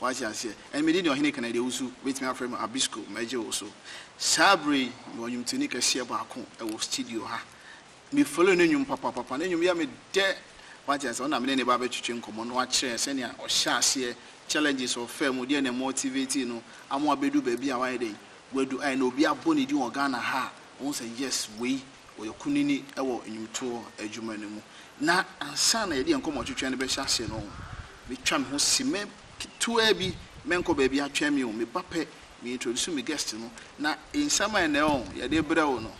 Wate aseɛ? Ɛnna medin deɛ ɔhene ka na deɛ wosu wobɛtumi afrɛ me Abisco, mɛgye wo so. Saa berɛ yi, mewɔ nnwomtoni kɛseɛ baako wɔ studio ha. Me follow ne nnwom papapapa, ne nnwom yɛ me dɛ. Wate aseɛ? Ɔno na me ne no reba abɛtwetwe nkɔmmɔ na wakyerɛ yɛn sɛdeɛ ɔhyɛɛ aseɛ, challenges a ɔfaa mu, deɛ na ɛmotivate no ama wabɛduru baabi a wayɛ dɛn? Wadu a ɛnnɛ obi abɔ ne din wɔ Ghana ha a, wohu sɛ yes, wei. ɔyɛ kunini wɔ nnwomtoɔ adwuma no mu. Na ansa na yɛde yɛn nkɔmmɔtwetwe no bɛhyɛ aseɛ no, mɛtwa me ho simɛ ketewaa bi, mɛnkɔ baabi atwɛn me o, meba pɛ, me introduce me guest no, na nsɛm a ɛnnɛ o, yɛde rebrɛ wo no,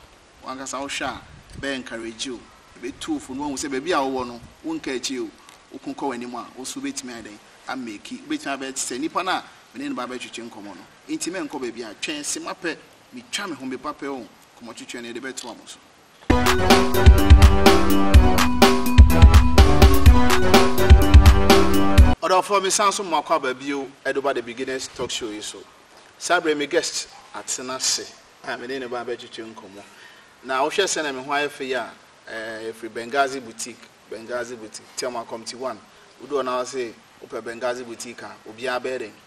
wo ankasa wo hwɛ a, ɛbɛ encourage wo, ɛbɛtu wo fo na woahu sɛ baabi a wowɔ no, wonkaa akyire o, woko kɔ w'anim a, wo nso wobɛtumi ayɛ dɛn? A make, wobɛtumi abɛyɛ te sɛ nnipa no a me ne no reba abɛtwetwe nkɔmmɔ no. Enti mɛnkɔ baabi atwɛn, simapɛ, metwa me ho, meba pɛ o, kɔmɔtwetwe no yɛde bɛtoa mo so. Ɔdɔfoɔ mesan so moakɔ aba bio de ba the beginners talk show yi so. Saa berɛ me guest atena ase a me ne ne ba bɛtwetwe nkɔmmɔ. Na wohwɛ sɛnea me ho ayɛ fɛ yi a eh, ɛfiri Benghazi boutique, Benghazi boutique, Thelma Comte 1. Wodu hɔ na wɔ se wopɛ Benghazi boutique a obiara bɛyɛ dɛn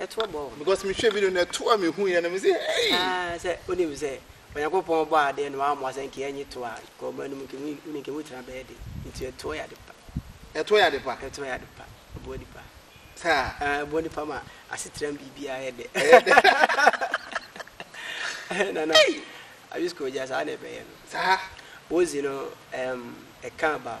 Ɛtoɔ bɔɔ wɔn. Because mehwɛɛ video no ɛtoɔ a mehuiɛ no mese ei. Aah sɛ wonim sɛ Onyankopɔn bɔɔ adeɛ no wammɔ sɛ nka ɛnye toɔ a nka ɔma no mu nka emu wonim nka emu tena bɛyɛ den nti ɛtoɔ yɛ ade pa. Ɛtoɔ yɛ ade pa? Ɛtoɔ yɛ ade pa. Ɛboa nipa. Saa? Aah ɛboa nipa ma asetram biribiara yɛ dɛ. Ɛyɛ dɛ. Nana Abisko gya saa na ɛbɛyɛ no. Saa? Wozi no ɛm ɛka about.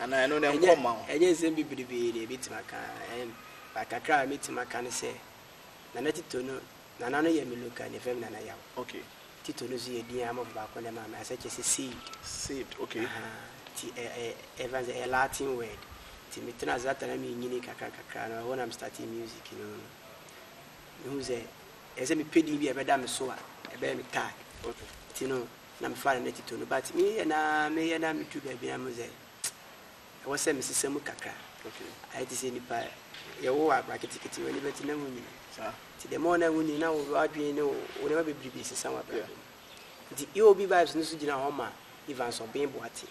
anaa ɛno no nkɔ mma wo. Ɛnyɛ nsɛm bebrebee na yɛbɛtumi aka, but kakra a mɛtumi aka ne sɛ, Nana Tito no, Nana no yɛ me local name, yɛfrɛ me Nana Yaw. Okay. Tito no nso yɛ din a amafo baako na ɛmaa me, asɛ kyerɛ sɛ saved. Saved, okay. Nti ɛfa no sɛ ɛyɛ Latin word. Nti metenaa ase Atlanta na menyini kakra kakra no, ɛhɔ na me startee music no. Mehu sɛ ɛsɛ sɛ mepɛ din bi a ɛbɛda me so a ɛbɛyɛ me tag. Okay. Nti no, na mefaa no na titoo no but me yɛ na meyɛ na meduru baabi na mo sɛ ɛwɔ sɛ mesesa mu kakra okay ayɛ te sɛ nipa yɛwo wɔ akora ketekete w'ani bɛte na wonyini nti the more na wonyini na wo adwene ne wo nneɛma bebrebe sesa wɔ abrabɔ mu nti eob vibes no so gyina hɔ ma Evans Ɔben Boateng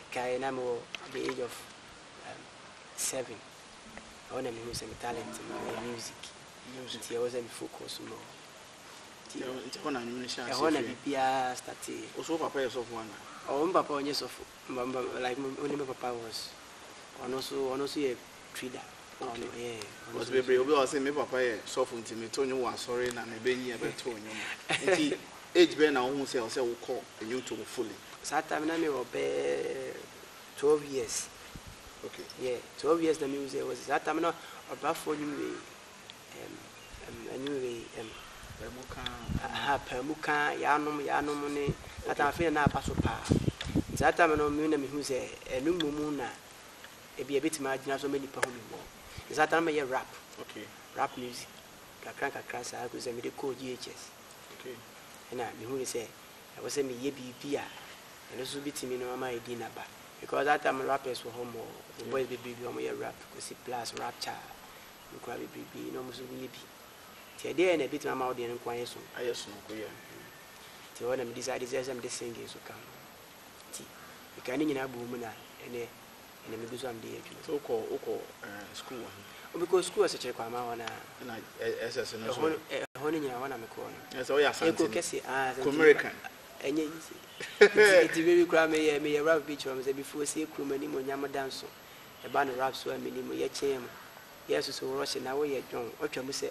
Mekae na mewɔ at the age of um, seven. Ɛhɔ na mehuu sɛ me talent no ɛyɛ music. Nti ɛwɔ sɛ me focus more. Nti ɛhɔ na biribiara startee. Oso papa yɛ sɔfo ana? Oh, me papa ɔnyɛ sɔfo. Like me ne me papa was ɔno nso ɔno nso yɛ Twitter na ɔno ɔyɛ ɔno Ɔs bebree obi a ɔse me papa yɛ sɔfo nti me to nwom wɔ asɔre na me bɛ nyin bɛ to nwom nti age bɛn na wohu sɛ ɔsɛ wokɔ nwonto mu fully. Saa time na me wɔ bɛyɛ twelve years okay yeah twelve years na me hu sɛ ɔsɛ saa time na ɔbrafoɔ nwom wei ɛm ɛm nwom wei ɛm paamu kaa aha paamu kaa yaanom yaanom ne saa time afei na na aba so paa nti saa time no me na me hu sɛ ɛno mmom na Ebia ebetumi agyina so ama nnipa ahu me mmɔɔ. Nti saa da no mɛyɛ rap. Okay. Rap music. Nkakra nkakra saa kosɛ mede kɔɔ GHS. Okay. Ɛna mehui sɛ ɛwɔ sɛ meyɛ biribi a ɛno nso betumi no ama adi n'aba. Because that time no rappers wɔ hɔ mmɔɔ. Yeah. Boys bebree bi a wɔyɛ rap, Kwesi Plus, Rapture, bi koraa bebree bi na wɔn nso yɛ bi. Nti ɛdeɛn na ebetumi ama wo deɛ no nko ayɛ sononko? Ayɛ sononko, yeah. Nti ɛhɔ na me decide sɛ ɛsɛ sɛ mede singing nso ka ho. Nti mekaa ne nyinaa bɔɔ mu na ɛnɛ Ɛnna mebisa wɔn deɛ adwuma. So wokɔ wokɔ eh, sukuu wɔ he? Mekɔɔ sukuu Asekyere Kwaamaa hɔ no a. Ɛnna eh, SS no nso. Ɛhɔ no nyinaa hɔ na mekɔɔ no. Ɛnna sɛ woyɛ Asanteni. Eko kɛse ah Asanteni. Kumerican. Ɛnyɛ yie. Nti nti bere bi koraa meyɛ meyɛ rap bi kyerɛ wɔn sɛ before sie kurom animuonyam da nso ɛba no rap so a menni mu yɛkyeeɛ mu yɛɛ soso worɔhye na woyɛ dwɔn wɔtwa mu sɛ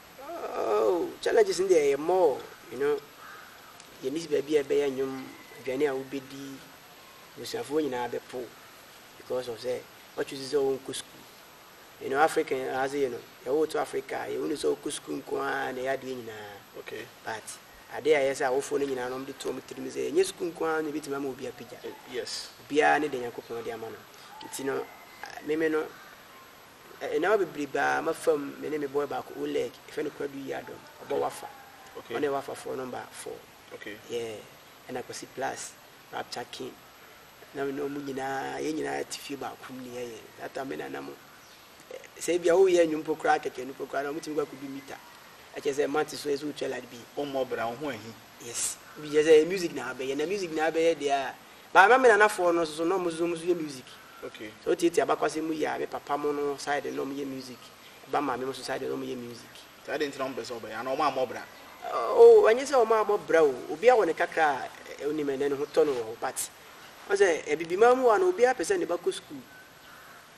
Oh challenges no deɛ ɛyɛ more you know yɛ miss baabi a ɛbɛyɛ nnwom aduane a wobɛdi abusuafoɔ nyinaa bɛpo because of sɛ wakyusi sɛ wɔnkɔ sukuu you know African ase you know yɛwo to Africa yɛhunu sɛ wokɔ sukuu nko ara na ɛyɛ adeɛ nyinaa okay but adeɛ a ɛyɛ sɛ awofoɔ no nyinaa no wɔde to wɔn tirim sɛ ɛnyɛ sukuu nko ara na ebɛtumi ama obi apagya eh, yes obiara ne deɛ Nyankopɔn de ama no nti no meme no Nneɛma bebree baa m'afam me ne me boy baako Oleg yɛfrɛ no Kwadu Yiadom ɔbɔ Wafa ɔne yɛ Wafa foɔ number four yeah ɛna Kwasi Plus Rapture King na me ne ɔmo nyinaa yɛn nyinaa te fie baako mu ne yɛyɛ that time me na nam sɛ ebia woyɛ nnwom po koraa kɛkɛ no po koraa na ɔmo tumi kɔ akɔdu mita ɛkyɛ sɛ mate so ɛsɛ wotwa lad bi wommɔ bra wo ho ahi yes bi kyɛ sɛ music na abɛyɛ na music na abɛyɛ deɛ a But na me nanafoɔ no nso so na ɔmo nso so ɔmo nso yɛ music. Okay. Sɛ wotiatia abakwasɛm mu yie a me papa mo no side no na ɔmo yɛ music, ba maame mo nso side no na ɔmo yɛ music. Nti adɛn nti na ɔmo pɛ sɛ ɔbɛyɛ anaa ɔmo ammɔ bra? Oh ɛnyɛ sɛ ɔmo ammɔ bra o, obiara wɔ ne kakra a onim ɛnɛ ne ho tɔ no wɔ hɔ but woahu sɛ Abibiman mu hɔ a no obiara pɛ sɛ ne ba kɔ school,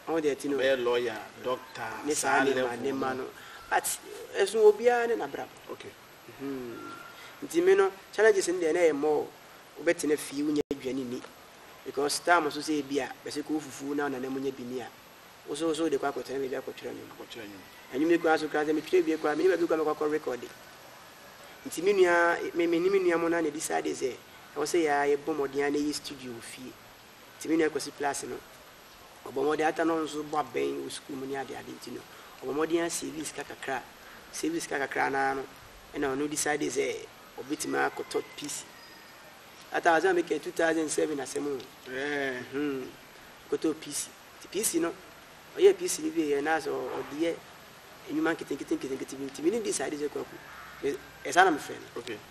woahu deɛ ɛte no. Ɔbɛyɛ lawyer, doctor, saa level no. Ne saa nneɛma nneɛma no but ɛso obiara ne n'abrabɔ. Okay. Hmm. Nti me no challenges no deɛ na ɛyɛ more wobɛtena fie wonya aduane nni because time so sɛ ebia bɛse kɔɔ fufuo na nana mu nya bi nni a wo so wo so wode kɔ akɔtena baabi akɔtwerɛ nnwom. Akɔtwerɛ nnwom. Nnwom yi koraa so koraa sɛ metwerɛ wie koraa menya baabi koraa mɛkɔ akɔ rekɔde. Nti me nua me me ne me nua mo no ara na decide sɛ ɛwɔ sɛ yɛa yɛbɔ mmɔden ara na yɛyɛ studio wɔ fie. Nti me nua Kwasi Plase no, ɔbɔ mmɔden ata na ɔno nso bɔ abɛn wɔ sukuu mu ne ade ade nti no, ɔbɔ mmɔden asavii sika kakra. Ɔsavii sika kakra no ara no, ɛna ɔno decidee sɛ ɔbɛtumi akɔtɔ PC. That time, asɛm a meka yi, 2007 asɛm o, hmm, ɔkɔtɔɔ PC. Nti PC no, ɔyɛɛ PC no wieeɛ na sɛ ɔde yɛ nnwuma nketenkete nketenkete bi nti, me ne no decidee sɛ Kwaku, me, ɛyɛ saa na mefrɛ no. Okay.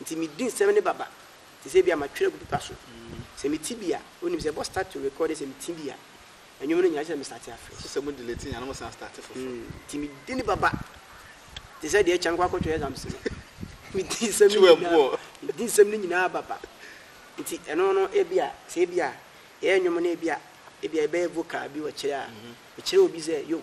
Nti medi nsɛm no baba te sɛ ebia matwerɛ agu pepa so. Sɛ mete bi a, wonim sɛ ɛbɔ start to record yɛ sɛ mete bi a, nnwom no nyinaa gye sɛ me starte afrɛ. So sɛ mo delete nyinaa na mo san starte foforɔ? Mm, nti medi no baba te sɛ deɛ kyɛn kɔ akɔtwerɛ exams no. Medi nsɛm no nyinaa, medi nsɛm no nyinaa baba. Nti ɛno no ebia, sɛ ebia yɛyɛ nnwom no ebia, ebia yɛbɛyɛ vocal bi wɔkyerɛ a, mekyerɛ obi sɛ yo,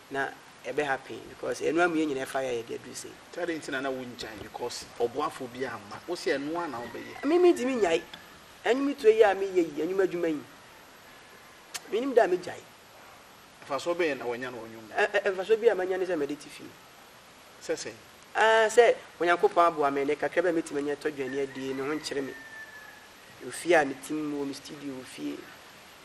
na ɛbɛ happen because ɛnoa mu yɛ nyina ɛfa yɛ yɛ de aduru sei. Sɛ adɛn nti na na wo ngyae because ɔboafoɔ bi amma wo sɛ ɛnoa na wo bɛ yɛ. Me me ntimi nyae ɛnwom tuo yi a me yɛ yi ɛnwom adwuma yi me nim da a me gyae. Mfasoɔ bɛn na wanya no wɔ nwom mu. Ɛ ɛ mfasoɔ bi a manya ne sɛ mɛde te fie. Sɛ sɛn. Aa sɛ Onyankopɔn aboa me ne kakra bi a mɛtumi anya tɔ dwane adie me ho nkyere me wɔ fie a me tim wɔ me studio wɔ fie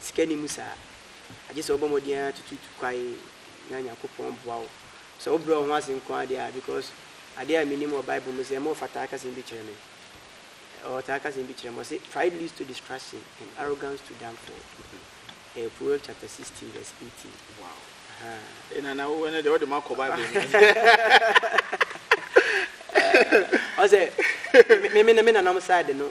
Sika nni mu saa. Agye sɛ wobɔ mmɔden ara tututu kwae na Nyankopɔn boa wo. Sɛ wobrɛ wo ho ase nko ara deɛ a, because adeɛ a menim wɔ Bible mu sɛ ɛma ɔfa taa ka asɛm bi kyerɛ me. Ɔtaa ka asɛm bi kyerɛ me, ɔse, Pride leads to destruction and arrogance to downfall. Ɛyɛ Proverbs chapter 16 verse 18. Wow. Ahaa. Eh, Nana, wo ɛnɛ deɛ wode ma kɔ Bible mu. Ɔsɛ, me, me, me nananom side no,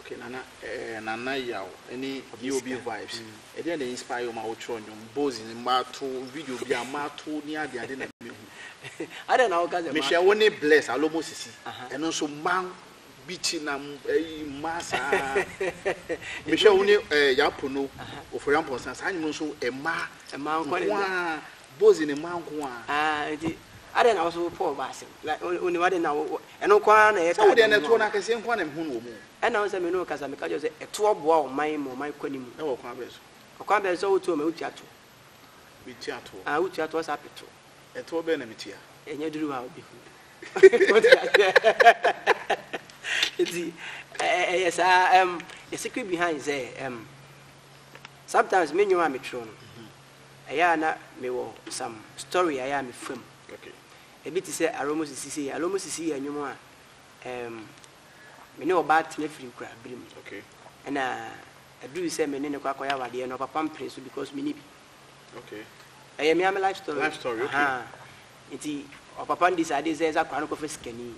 Okay Nana eh Nana Yaw ne Yɛ Obi Vibes ɛdeɛn na inspire wo ma wo twerɛ nnwom, Bozi ne mato video bi a mato ne ade ade na me hu. Adɛn na wo ka sɛ mato? Mehwɛ wo ne Bless Alomo Sisi ɛno nso mmaa beat na ɛyi mmaa saa mehwɛ wo ne eh Yaa Pono Ofori Amponsah saa nnwom no nso mmaa nkoaa Bozi ne mmaa nkoaa. Ah nti adɛn na wo nso wo pɔɔ ba asɛm like wo nim adɛn na wo Ɛno nko ara na ɛyɛ Sɛ wo deɛ krataa no mu toɔ no akɛseɛ nko ara na mehu no wɔ mu. Ɛna wo sɛ me ne wo kasa, meka kyerɛ wo sɛ toɔ boa wo man ma ɔman kɔ anim. Ɛwɔ ɔkwan bɛn so? Ɔkwan bɛn so a wotoɔ ma wotua toɔ. Metua toɔ. Ah, wotua toɔ saa pe toɔ. Ɛtoɔ bɛn na metua? Ɛnyɛ duru hɔ a wobɛhu no. Wote aseɛ? Nti ɛ- ɛ- ɛyɛ saa um, the secret behind sɛ um, sometimes me nnwom a metwerɛ no ɛyɛ a na mewɔ some story a ɛyɛ a mefa mu Okay. Ebi te sɛ Aromo Sisi sei. Aromo Sisi yɛ nnwom a ɛɛm me ne ɔbaa tena firi kura bere mu. Ɛna ɛduru sɛ me ne no kɔ akɔyɛ awadeɛ no, ɔpapa mpere so because me ni bi. Ɛyɛ me ara me life story. Life story, okay. Ahaa. Nti ɔpapa ndi saa adeɛ sɛ ɛsɛ akwadaa no kɔfa sikani.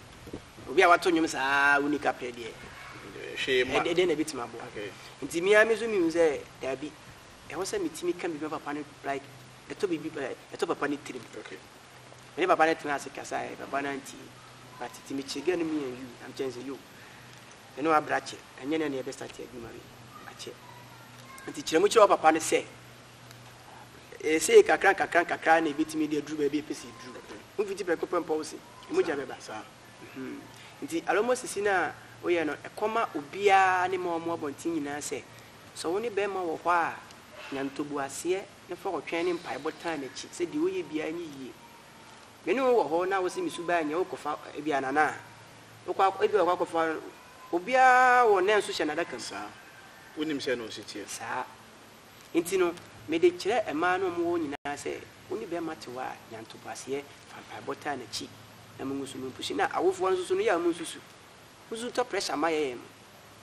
Obi a wato nnwom saa a wonni kaprɛ deɛ, Hwee mma. ɛdeɛ na ɛbɛtumi aboa. Nti me ara me nso mehu sɛ daabi, ɛwɔ sɛ metumi ka biribi ma papa no like ɛtɔ biribi ɛɛ ɛtɔ papa no tirim. Me ne papa no tenaa ase kasaeɛ, papa no antie. But tete mekyerɛ girl no me and you, na mekyerɛ no sɛ yo, me ne wo abrɛ akyɛ, ɛnyɛ nnɛ na yɛbɛ start adwuma wei, akyɛ. Nti kyerɛ mu kyerɛ wo papa no sɛ, ɛyɛ sei kakra nkakra nkakra na ɛbɛtumi de aduru baabi a ɛpɛ sɛ ɛduru. Womfiti prɛko pɛ mpɔ wo se, mogya bɛba. Mhm. Nti Alomo sisi no a woyɛ no, ɛkɔma obiara ne ma ɔmo abɔnten nyinaa sɛ, sɛ wo ne bɛrima wɔ hɔ a, nya ntoboaseɛ, na fa ɔtwɛn ne mpaebɔ tan n'akyi sɛ deɛ ɔyɛ biara nyɛ yie. Me ne wo wɔ hɔ na wose me suban nyɛ wokɔ fa ebi a nana a wokɔ akɔ ebi a wokɔ akɔfa obiara wɔ nɛ nso hyɛ n'adaka mu. Saa. Wonim sɛ na ɔsi teɛ. Saa. Nti no me de kyerɛ mmaa no a wɔwɔ hɔ nyinaa sɛ wo ne bɛrima te hɔ a nya ntoboaseɛ fa mpaebɔ tan n'akyi na mo nso mo mpushi na awofoɔ no nso so no yɛ a mo nsusu. Mo nso tɔ pressure ma yɛyɛ no.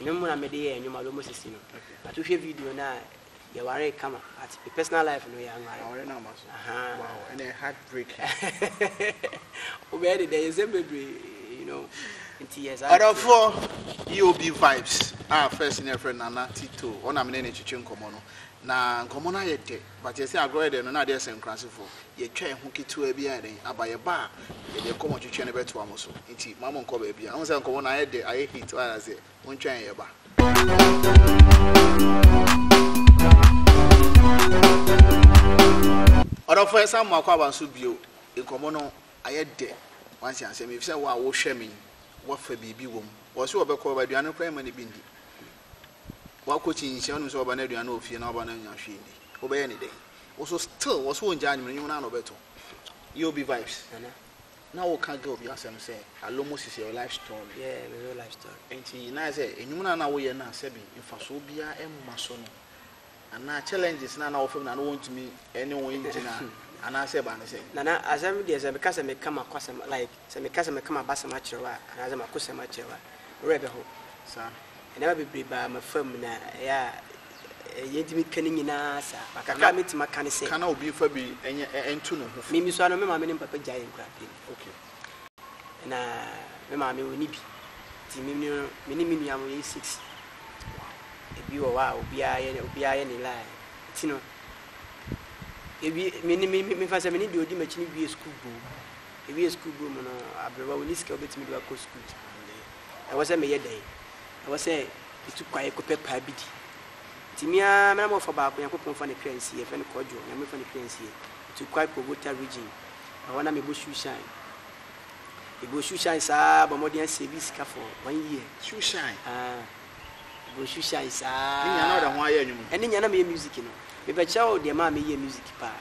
Eno mu na me de yɛɛ nnwom a wobɛbɔ sisi no. But wohwɛ video no a, yɛwaree kama but me personal life no yɛanware. Aware no amma so. Ahaa. Wow, ɛna ɛyɛ heart breaking. Wobɛyɛ de dɛn? Nsɛm bebree, you know. Nti yɛ saa na ɛteɛ. Ɔdɔfoɔ, EOB Vibes a first no yɛfrɛ no Nana Tito, ɔno na me ne no retwetwe nkɔmmɔ no. Na nkɔmmɔ no ayɛ dɛ. But yɛse agorɔ yɛ dɛn no na adeɛ sɛ nkurasefo yɛtwa yɛn ho ketewa bi a ɛdɛn aba yɛba a yɛde ɛkɔmɔ twetwɛ no bɛtoa mo so nti mma monkɔ baabi a wohu sɛ nkɔmɔ no ayɛ dɛ ayɛ heat wate aseɛ montwa yɛn yɛba. Ɔdɔfo yɛsan mo akɔ aba nso bio nkɔmɔ no ayɛ dɛ wate aseɛ mefisɛ wo a wohwɛ me yi woafa biribi wɔ mu wɔse wɔbɛkɔ aduane no koraa yɛmma no bi ndi Wakɔ kyin nhyia wonim sɛ waba no aduane wɔ fie na waba no annya hwee ndi wobɛyɛ ne dɛn wo so still wɔ so wɔngya anwene nwom no a na ɔbɛto EOB vibes nana na woka girl bi asɛm sɛ alomos is your life story yeah me real life story nti na ayɛ sɛ enwom no a na woyɛ no a sɛbi mfasoɔ biara mma so no Anaa challenges na na wɔfa mu na na wɔntumi ne wɔn ngyina anaa sɛ ba ne sɛ. Nana asɛm deɛ sɛ meka sɛ meka makwasɛm like sɛ meka sɛ meka mabasɛm akyerɛ wo a anaa sɛ makosɛm akyerɛ wo a wo werɛ bɛho. Saa. Nneɛma bebree baa mafa mu na ɛyɛ a ɛyɛ ntumi ka ne nyinaa saa but kakra a mɛtumi aka ne sɛ. Ka na obi nfa bi nyɛ nto ne ho fo. Me me sua no me maame ne me papa gyaee nkura pɛn. Okay. na me maame ɔnni bi nti me ne me ne me nua mo yɛyɛ six. Ebi wɔ hɔ a obiara yɛ obiara yɛ ne line nti no ewie me ne me me fa sɛ me ne deɛ ɔdi m'akyi no wie sukuu bom ewie sukuu bom no aberewa ɔnni sika ɔbɛtumi de wakɔ sukuu nti ɛwɔ sɛ meyɛ dɛn ɛwɔ sɛ metu kwae kɔpɛ paa bi di nti me a me na mɔfa baako Nyankopɔn fa ne kra nsie yɛfɛ no kɔdwo nyame fa ne kra nsie metu kwae kɔ Wota region Ɛhɔ na mebɔ Shoeshine. Mebɔɔ Shoeshine saa ara, bɔɔ mmɔden ara siee bi sika for one year. Shoeshine? Aah. Mebɔɔ Shoeshine saa ara. Ne nyinaa na wode ho ayɛ nnwom? Ɛne nyinaa na meyɛ music no. Mebɛkyerɛ wo deɛ ɛmaa meyɛɛ music paa.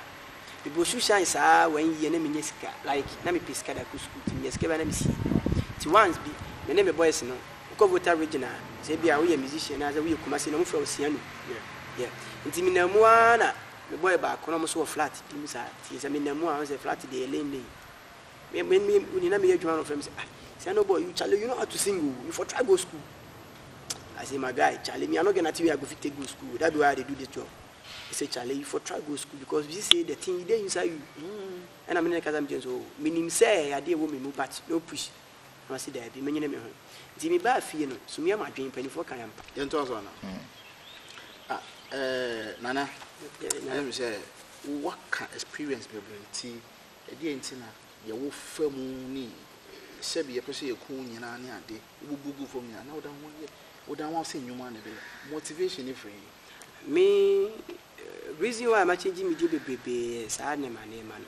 Mebɔɔ Shoeshine saa ara one year na mennya sika. Like, na mepɛ sika de akɔ sukuu nti menya sika biara na mesie. Nti once bi, me ne me boys no, wokɔ Volta Region a, sɛ ebia woyɛ musician anaasɛ woyɛ Kumasi no, wɔfrɛ wo Sianu. Yeah. Yeah. Nti menam mu ara na Me bɔe baako na ɔmo nso wɔ flat bi mu saa nti sɛ me nam mu a ɔsɛ flat deɛ yɛ lane lane me me me oni na me yɛ adwuma na ɔfrɛ me sɛ ah sɛno boy you Charlie you know how to sing o you for try go school I say my guy Charlie me I no get nothing wey I go fit take go school that be why I dey do this job he say Charlie you for try go school because you see say the thing e dey inside you ɛna me ne ne kasa me gyina so oh me nim sɛ ɛyɛ adeɛ ɛwɔ me mu but no push Na ɔse, Daabi, menyene me ho. Nti mebaa fie no, Sumia m'adwen, mpaninfoɔ kae ampa. Yɛntoa so anaa? Ah, eh, Nana, ɛyɛ me sɛ woaka experience bebree nti, ɛdeɛn nti na deɛ wofa mu ne sɛbi yɛpɛ sɛ yɛku wo nyinaa ne ade, wobubu gu fam nyinaa, na woda ho yɛ, woda ho ase nnwom ara na ɛbɛyɛ? Motivation no firi he? Me, eh, reason why ma change me deɛ bebrebee yɛ saa nneɛma nneɛma no.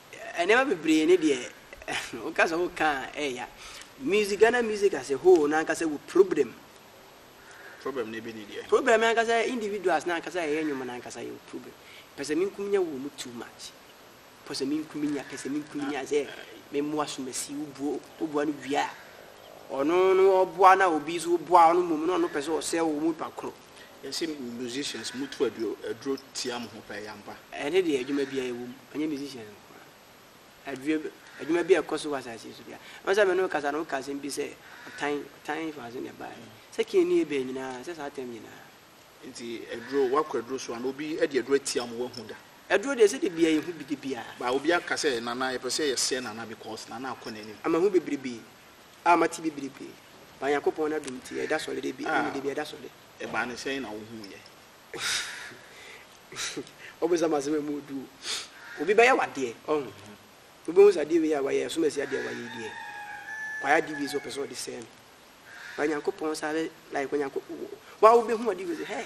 Nneɛma bebree ne deɛ woka sɛ woka a ɛɛya. Music Ghana music as a whole n'ankasa wɔ problem. Problem ne bi ne deɛ. Problem n'ankasa individuals n'ankasa ɛyɛ nnwom n'ankasa yɛ wɔ problem. Pɛsɛ minkuminya wɔ mu too much. Pɛsɛ minkuminya pɛsɛ minkuminya sɛ me mmoa so masi wo buo wo boa no wie a ɔno no ɔboa na obi nso boa ɔno mmom na ɔno pɛsɛ ɔsɛe wo mu nipa koro. Yɛse musicians motu aduro tia mo ho paa yi ampa. Ɛne deɛ adwuma biara ɛwɔ mu ɛnyɛ musicians nko ara adwuma adwuma biara ɛkɔ so wɔ asase so biara ɛwɔ sɛ mene wo kasa no woka asɛm bi sɛ ɔtan ɔtan fa so na ɛbaa yi sɛ kii ne ebɛn nyinaa sɛ saa tɛm nyinaa nti aduro wakɔ aduro so ana obi ɛde aduro atia mo wahu da aduro deɛ sɛ de bia yɛhu bi de bia ba obi aka sɛ nana yɛpɛ sɛ yɛsɛ nana because nana akɔ n'anim ama ho bebrebe. A mate bibire pii. Ba Nyankopɔn n'adom nti, ɛda sɔre da bi, ah, ɛne da bi ɛda sɔre. Ɛbaa no sɛn na wohuiɛ? Ɔbonsam asɛm ɛmu ɔdu o. Obi bɛyɛ w'adeɛ, ɔho. Wobɛhu sɛ adeɛ wei a wayɛ, ɛsom asi adeɛ a wayɛ yi deɛ, wayɛ adeɛ wei sɛ ɔpɛ sɛ ɔde sɛe me. Ba Nyankopɔn saa bɛ, like Onyanko, wo a wobɛhu adeɛ wei sɛ, hɛɛ.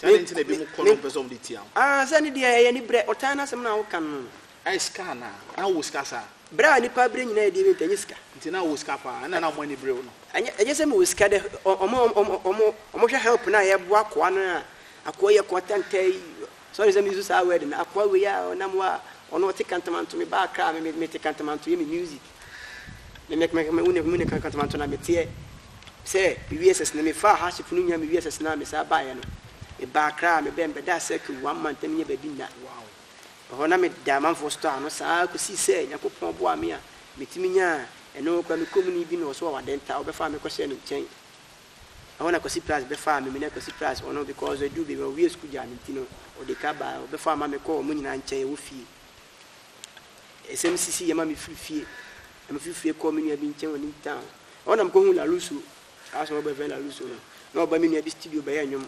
Dɛn nti na ebinom kɔ na wɔmpɛ sɛ wɔde tia wo? Ah, sɛ ɛno deɛ ɛyɛ anibrɛ. Ɔtan no asɛm no a woka no no. Ɛyɛ sika anaa? Na wowɔ sika saa? Brɛ a nnipa brɛ nyinaa ɛdeɛ bi nti, ɛnyɛ sika. Nti na wowɔ sika paa, ɛnna na wɔn ani bere wo no. Ɛnyɛ, ɛnyɛ sɛ mewɔ sika dɛ. Wɔn a wɔn, wɔn, wɔn, wɔhwɛ help no a yɛboa akoa no a, akoa yi yɛ akoa tantaa yi, sorry sɛ me use saa word no, akoa wei a ɔnam hɔ a, ɔno ɔte kantamanto, meba Accra a, me, me, mete kantamanto yɛ me music. Na meka meka meka meka meka kasa manto na meteɛ sɛ mewie SS no mefaa hardship no nyinaa mewie SS no a mesaa baeɛ no mebaa Accra a mebɛɛ mebɛdaa circle one month na menyɛ baabi nna ɛhɔ na meda amanfoɔ store ano saa kɔsii sɛ Nyankopɔn boaa me a metumi nyaa ɛno koraa me kromoni bi na ɔso wɔ Wadenta ɔbɛfaa me kɔhyɛɛ ne nkyɛn ɛhɔ na Kwasi Pras bɛfaa me me ne Kwasi Pras ɔno because ɛduu baabi ɔwie sukuu gyaa me nti no ɔde ka baa ɔbɛfaa ma me kɔɔ wɔn nyinaa nkyɛn ɛwɔ fie Nsɛm sisii yie ma mefiri fie, na mefiri fie kɔɔ me nua bi nkyɛn wɔ Newtown. Ɛhɔ na mekɔhuu Larusso, saa asomafo bɛfrɛ no Larusso no. Na ɔba me nua bi studio bɛyɛ nnwom.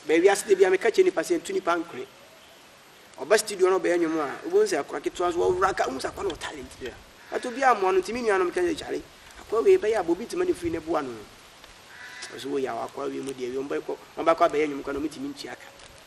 Bɛyɛ wiase da biara meka kyerɛ nnipa sɛ ntu nnipa nkore. Ɔba studio na ɔbɛyɛ nnwom a, wobɛhu sɛ akora ketewa nso ɔworo anka wohu sɛ akora no wɔ talent. Yeah. But obiara mmoa no nti me nuanom ka sɛ kyale akora wei bɛyɛ aba obi ntoma ne firi no boa no. Ɔso wo yaw akora wei mu deɛ wei ɔmbɛkɔ ɔmbɛkɔ abɛyɛ nnwom kora na ɔmo ntumi ntua ka.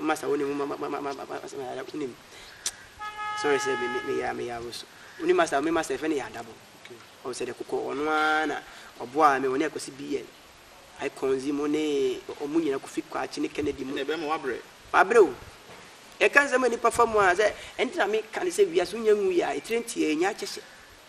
Master wo nim wo ma ma ma ma ma master yada wo nim sorry sɛ me me ya me ya wo so wo nim master me master fɛ ne yada bo ɔwɔ sɛ de kokɔ ɔno ara na ɔboa me ɔne akwasi bn icons mu ne ɔmo nyina kofi kwakye ne kennedy mu. ɛna ɛbɛma wabrɛ. wabrɛ o yɛka nsɛm a nipa fa mu a sɛ ɛnti na me ka ne sɛ wiase wonya ngu yɛ a etire nti a ɛnya akyɛhyɛ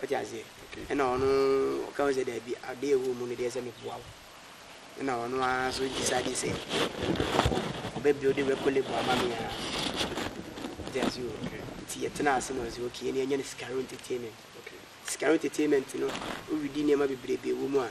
Wote aseɛ? Ɛna ɔno ɔka ho sɛ, Daabi, adeɛ a ɛwɔ mu no deɛ sɛ meboa wo. Ɛna ɔno ara nso decide sɛ ɔbɛ build record label ama me ara. Wote aseɛ o? Nti yɛtenaa ase na ɔse, okay, ɛne yɛnyɛ no Sikaro Entertainment. Sikaro Entertainment no, woredi nneɛma bebrebe wɔ mu a,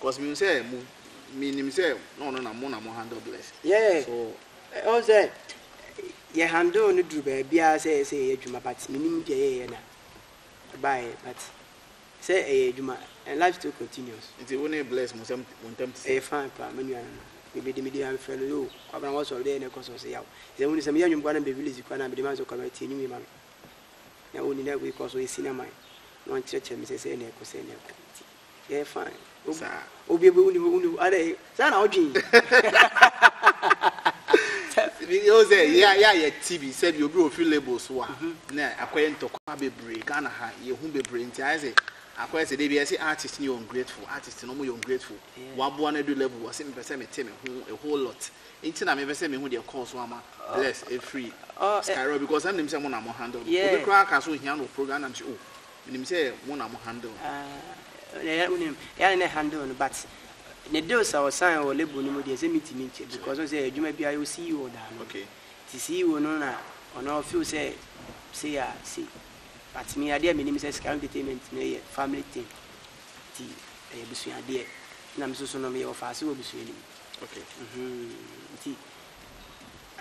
Cause minim sɛ mo minim sɛ na ɔno na mo na mo handle blessing. Yeah. So ɔn sɛ yɛ handle no duru baabi a sɛ yɛ sɛ yɛyɛ adwuma but minim deɛ yɛyɛ na ɛbaeɛ but sɛ ɛyɛ adwuma and life still continues. Nti wo ne bless mo nsɛm mo ntam te sɛ. Ɛyɛ fine paa me nua no no mebɛdi medi ha mefrɛ no yoo kwabena wɔsɔ deɛ na ɛkɔ so sɛ yaw sɛ woni sɛ meyɛ nnwom kora na mebɛ release kora na mede ma sɛ kwabena tie ne wie ma me na woni na wei kɔ so ɛsi na man na wɔnkyerɛkyerɛ me sɛ sɛ na ɛkɔ sɛ na ɛkɔ nti Ɛyɛ fine. Saa. Obi obi wuni hɔ wuni hɔ adɛ saa na ɔdwen. Ebi o sɛ yɛ yɛ yɛ ti bi sɛ bi obi ofi label so a mhm. na akɔyɛ ntɔkwa bebree Ghana ha yɛ hu bebree nti ayɛ sɛ akɔyɛ sɛ debi ɛsɛ artist ni yɛ ungrateful artist no mo yɛ ungrateful waboa no do level wɔsi mi pɛ sɛ mi te mi ho a whole lot nti na mi pɛ sɛ mi hu deɛ kɔɔ so ama oh. bless efiri oh, eh. skyro because ɛmu nim sɛ mo na mo handle no obi koraa ka so ohia no program na mi sɛ o. Oh, Menim sɛ mo na mo handle no. Ah yɛ wonim yɛ ne ne handle no but ne deal sɛ ɔsan wɔ label no mu deɛ sɛ metumi nkyɛ because ɔsɛ adwuma biara yɛwɔ CEO da ano okay nti CEO no na ɔno ɔfeel sɛ sei a sei but me adeɛ a menim sɛ Sika Entertainment no yɛ family thing nti ɛyɛ abusua adeɛ na me nso so no meyɛ ɔfaase wɔ abusua no mu okay mhm nti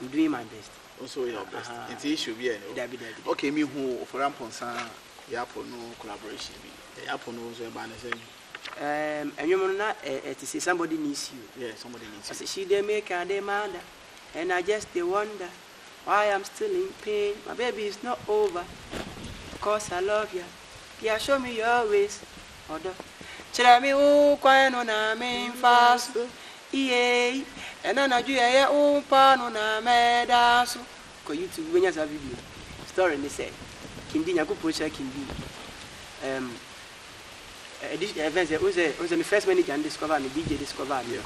I'm doing my best. Wo nso woyɛ wo best. Aha. Nti issue biara nni hɔ. Dabi, dabi, dabi. Okay, mehu Ofori Amponsah Yapo no collaboration bi. Yapo no nso ɛbaa no sɛn? Um, ɛnwom no na ɛ ɛte sɛ Somebody Needs You. Yeah, Somebody Needs You. Ɔse she dey make a dey mada and I just dey wonder why I'm still in pain. My baby is not over cause I love ya. Dear show me your ways, ɔdɔ. Kyerɛ me wo kwan no na me nfa so, iyei. Ɛna anadwo yɛyɛ wo mpa no na mɛda so. Kɔ YouTube wobɛnya saa video no. Story ne sɛ, King Dee, Nyankopɔn nhyira King Dee. Ɛɛm, ɛdi, ɛfɛn sɛ, wohu sɛ, wohu sɛ me first manager no discover me, DJ discover me. Yes.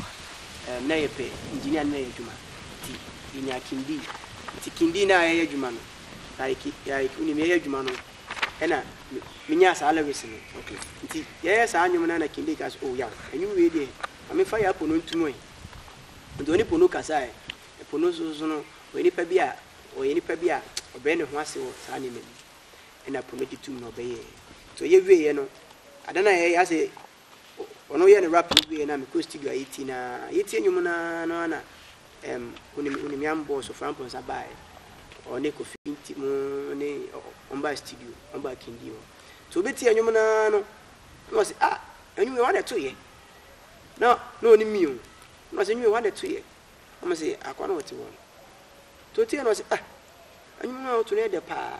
Ɛɛm, na yɛpɛ engineer ne no yɛ adwuma, nti yɛnyaa King Dee. Nti King Dee ne a yɛyɛ adwuma no, like, like, wonim, yɛyɛ adwuma no, ɛna me menyaa saa lyrics no okay nti yɛyɛ saa nnwom no ɛna Kinde ka sɛ oh yaw nnwom wei deɛ ma memfa yɛ apono ntom ɛ nti ɔne pono kasa ɛ pono so so no ɔyɛ nipa bi a ɔyɛ nipa bi a ɔbrɛ ne ho ase wɔ saa nneɛma bi ɛna pono gye tum na ɔbɛyɛɛ nti ɔyɛ wieɛ no ada no a yɛyɛ asɛ Ɔno yɛ ne rap no wie na mekɔ studio a yɛti na yɛti nnwom no ara no ana um, wonim wonim yam bɔɔ so frampo nsa baeɛ ɔne kofi nti mu ne ɔmbaa studio ɔmbaa kindi hɔ nti wobɛti nnwom no ara no na wɔse ah nnwom yɛ wɔn ɛtoyɛ na na ɔne mio na wɔse nnwom yɛ wɔn ɛtoyɛ na wɔn se akɔ na wɔte hɔ no nti wotie na wɔse ah nnwom no a woto no yɛ dɛ paa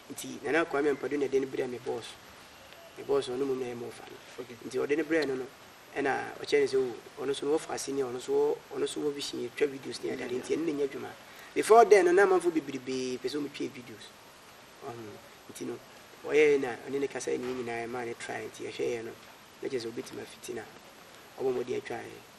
Nti Nana Kwame Ampadu na de no brɛɛ me boss. Me boss no, ɔno mmom na ɛyɛ m'ɔfa no. Nti ɔde no brɛɛ no no, ɛna ɔkyerɛɛ no sɛ, oh, ɔno nso no wɔfa ase ni a, ɔno nso wɔ, ɔno nso wɔ vision, yɛtwa videos ne adeade, nti ɛno na ɛnyɛ adwuma. Before then no, na amanfoɔ bebrebee pɛ sɛ wɔtwa yɛn videos. Wahu? Nti no, ɔyɛeɛ na ɔne no kasaeɛ ne yɛn nyinaa, yɛmaa no try, nti yɛhwɛeɛ no, na kyerɛ sɛ ɔbɛtumi afiti na wabɔ mmɔden atwa yɛn.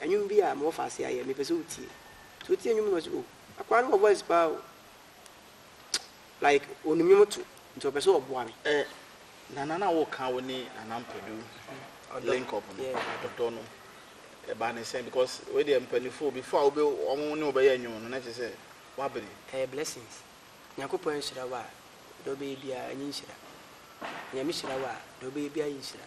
Ɛnwom bi a mewɔ fa ase ayɛ mepɛ sɛ wo tie so wo tie nwom no ɔse o akwaa no wɔ voice paa o like onim nwom to nti ɔpɛ sɛ ɔboa me. Eh, nana na wo ka wo ne nana mpɛdu mm, link up no ɔdɔ no ɛba ne sɛn because wei deɛ mpanimfoɔ before a wobe ɔmo ne wobɛyɛ nwom no na kyerɛ sɛ wabere. Ɛyɛ blessings nyankopɔn nhyira wo a deɛ wobɛyɛ biara ɛnyɛ nhyira nea mehyira wo a deɛ wobɛyɛ biara yɛ nhyira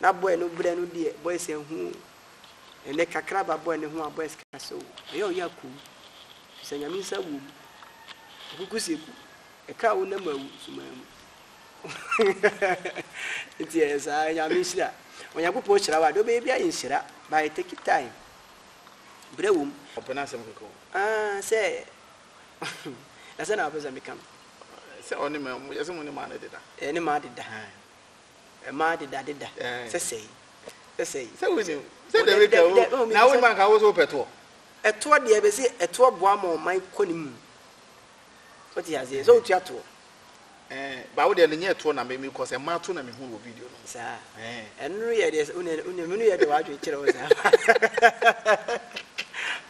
Na boy no brɛ no deɛ boys anhu o ɛnɛ kakra ba boy no ho a boys ka sɛ o ɛyɛ ɔyɛ a komm bisa nyame nsa wom ɔkuku seku ɛka wo nam awu sumaa mu nti ɛyɛ saa nyame nhyira onyankopɔn hyira wo a deɛ wobɛyɛ bi ayɛ nhyira by take time brɛ wom ɔpɛ no asɛm kɛkɛ o ah sɛ na sɛ na wopɛ sɛ meka no sɛ ɔne ma yɛsɛ mo ne ma no deda ɛne ma deda Ɛmaa dedadeda sɛsɛe sɛsɛe. Sɛ wonim sɛ dɛm atwa o, na wonim anka wo nso wopɛ toɔ. Ɛtoɔ deɛ bɛse ɛtoɔ boa ma ɔman kɔ ne mu. Wote aseɛ? Sɛ wotua toɔ. Ɛɛ ba wo deɛ no nyɛ toɔ na me mekɔ sɛ mmaa to na mehu no wɔ video no mu. Saa. Ɛɛ. Ɛno no yɛ deɛ wone wone menu yɛ deɛ wadwene kyerɛ wo saa.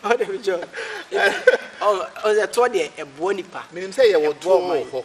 Ɔde me jɔ. Ɔsɛ toɔ deɛ ɛboa nipa. Menim sɛ yɛwɔ toɔ wɔ hɔ.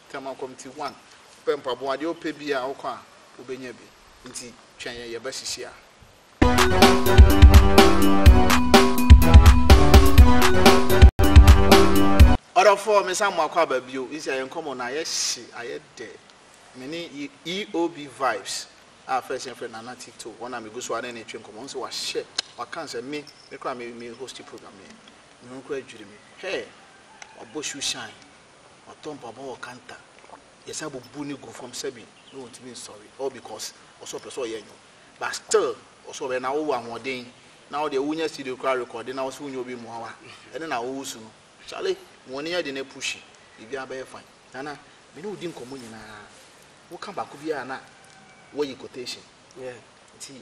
Tema Committee one pɛ mpaboa deɛ ɔpɛ biaa wokɔ a wobɛnya bi nti twɛn yɛn yɛba hyishia. Ɔdɔfoɔ me san moakɔ aba bio nti ayɛ nkɔmɔ no ayɛ hye ayɛ dɛ mene EOB vibes a first yɛn frɛ Nana Tito wɔn a megu so a ne ne twe nkɔmɔ nsɛ wahyɛ waka nsɛ me me kora me me hosti program yɛ me ho kora dwiri me hɛɛ wabɔ shoe shine Ɔtɔ mpaboa wɔ kanta yɛsan bubu no gu fam sɛbi na ɔntumi nsɔre all because ɔsɛ ɔpɛ sɛ ɔyɛ nnwom but still ɔsɛ ɔbɛyɛ na wowɔ ahoɔden na wo deɛ wonya studio koraa rekɔde na wo sɛ wonya obi mmoa wo a ɛne na wowo su no Charlie ma ɔne yɛ de no pushi biribiara bɛyɛ fine. Nana, me ne wo di nkɔmmɔ nyinaa, woka baako biara a na woayi quotation. Yeah. Nti.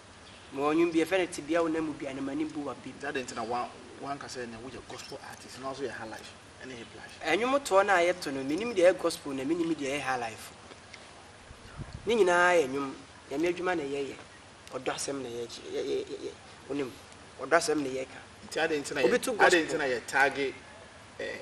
Mewɔ nnwom bi yɛfrɛ no Tebea Wo Nan Mu Dua no M'ani Bu W'apɛ Bi. Adɛn nti na woanka sɛ nea woyɛ gospel artist na nso yɛ highlife ne hiplife? Nnwom toɔ no a yɛto no, menim deɛ ɛyɛ gospel na menim deɛ ɛyɛ highlife. Ne nyinaa yɛ nnwom, Nyame adwuma na yɛyɛ, ɔdɔ asɛm na yɛkyerɛ, wonim, ɔdɔ asɛm na yɛka. Nti adɛn nti na yɛ, adɛn nti na yɛ tagge eh,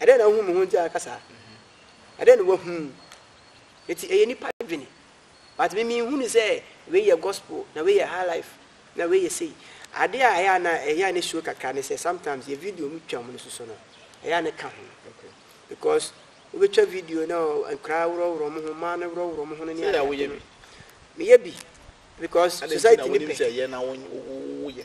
Ɛdɛn na wohu mo ho nti a ɛka saa? Ɛdɛn na wɔahu? Eti ɛyɛ nipa dwene. But me me hunu sɛ wei yɛ gospel na wei yɛ high life na wei yɛ sei. Ade a ɛyɛ a na ɛyɛ a ne sure kakra ne sɛ sometimes yɛ video mu twa wɔn no soso no ɛyɛ a ne ka ho. Because wobɛtwa video na nkwadaa worɔworɔ wɔn ho, mmaa no worɔworɔ wɔn ho no ne adeade no. Meyɛ bi because society ne pɛ.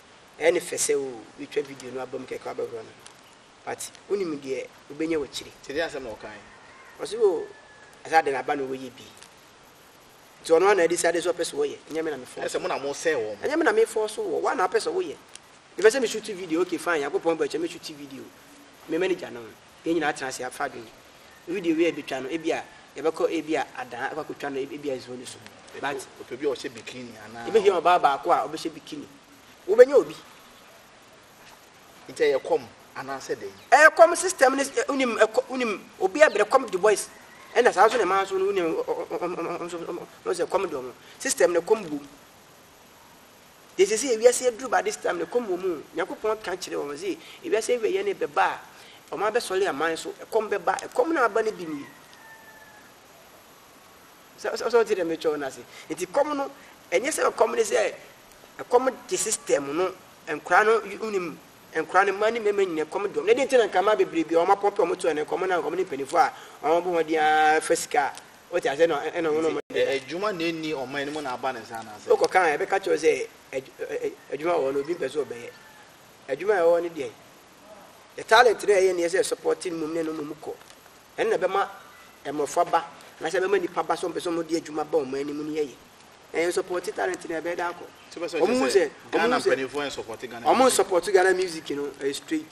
Ɛyɛ no fɛ sɛ oh wobɛtwa video no abam kɛkɛ wabɛhorɔ no but wonim deɛ wobɛnya wɔ akyire. Nti ɛdeɛn asɛm na ɔkaeɛ? Ɔse oh ɛsɛ adɛn aba na ɔyɛ bi nti ɔno ara na adecide sɛ ɔpɛ sɛ ɔyɛ ɛnyɛ me na me force no. Ɛnyɛ sɛ mo na mo sɛɛ wɔn. Ɛnyɛ me na me force wo, woa na wopɛ sɛ woyɛ. Mepɛ sɛ me shoot video okay fine Nyankopɔn bɔ ɛkyɛ mɛ shoot video me manager no. Yɛn nyinaa atena ase afa adwene. Video wei a yɛbɛtwa no, ebia yɛbɛkɔ ebia Adan akɔ akɔtwa no ebia Zoo no so. But. Ɔpɛ bi a ɔhyɛ bikini anaa. Yɛbɛhia ɔbaa baako a ɔbɛhyɛ bikini. Wobɛnya obi. Nti ɛyɛ kɔm anaa sɛ dɛn? Ɛyɛ kɔm system no wonim ɛkɔ wonim obi a brɛ kɔm de boys ɛna saa nso na ɛmaa nso no wonim wɔn sɛ kɔm de wɔn system no kɔm bom. Deɛ sɛsɛ yɛ wiase aduru by this time no ɛkɔm wɔ mu o, Nyankopɔn ka kyerɛ wɔn se ewiase awieɛ no bɛba a wɔn abɛsɔre aman so, ɛkɔm bɛba, ɛkɔm no a aba no bi nie. Sɛ sɛ ɔte deɛ metwɛ wo no ase. Nti kɔm no ɛnyɛ sɛ ɛkɔm no sɛ ɛkɔm gye system no nkora no wonim nkora no mma ne mmarima nyina ɛkɔm dɔm na ɛde nti na nka mmaa bebrebe a wɔn apɔmpe wɔn to ɛno ɛkɔm no a nkɔm ne mpanimfoɔ a wɔn bɔ wɔn deɛ fɛ sika a Wote aseɛ? Ɛna ɛ- ɛna Nti, ɔmonom ɛ- deɛ. adwuma na ɛnni ɔman no mu na aba ne saa anaasɛ? Wokɔka a, ɛbɛka kyerɛ wo sɛ adw- ɛ- ɛ- adwuma wɔ hɔ no, obi mpɛ sɛ ɔbɛyɛ. Adwuma a ɛwɔ hɔ no deɛ, the talent no a ɛyɛ neɛ sɛ ɛsupporte no mmom ne no mmom kɔ. Ɛno na ɛbɛma mmɔfra ba, anaasɛ ɛbɛma nnipa ba sɛ ɔmpɛ sɛ ɔmode adwuma ba ɔman no mu no yɛyɛ. Na yɛnsupporte talent no a, ɛbɛyɛ dɛ akɔ. Nti wopɛ sɛ ɔkyerɛ Ɔmohu sɛ sɛ, Ghana ɔmohu sɛ, mpanimfoɔ nsupporte Ghana ɔmo music? nsupporte Ghana music no, ɛyɛ straight.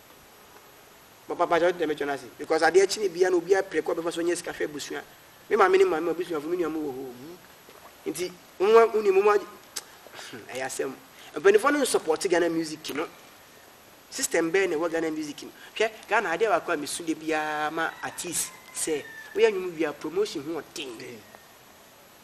Papa pakyɛ wotena me kyɛ no ase because adeɛ kye ne bia no obia pere kɔ bɛfa so nya sika hwɛ abusua me maame ne maame abusuafo me nua mo wɔ hɔ wu nti mo mo uni mo mo ɛyɛ asɛm mpanimfoɔ no nsupporte Ghana music no system bɛɛ na ɛwɔ Ghana music no hwɛ Ghana adeɛ baako a mesu da biara ma artist sɛ woyɛ nnwom wia promotion ho ɔden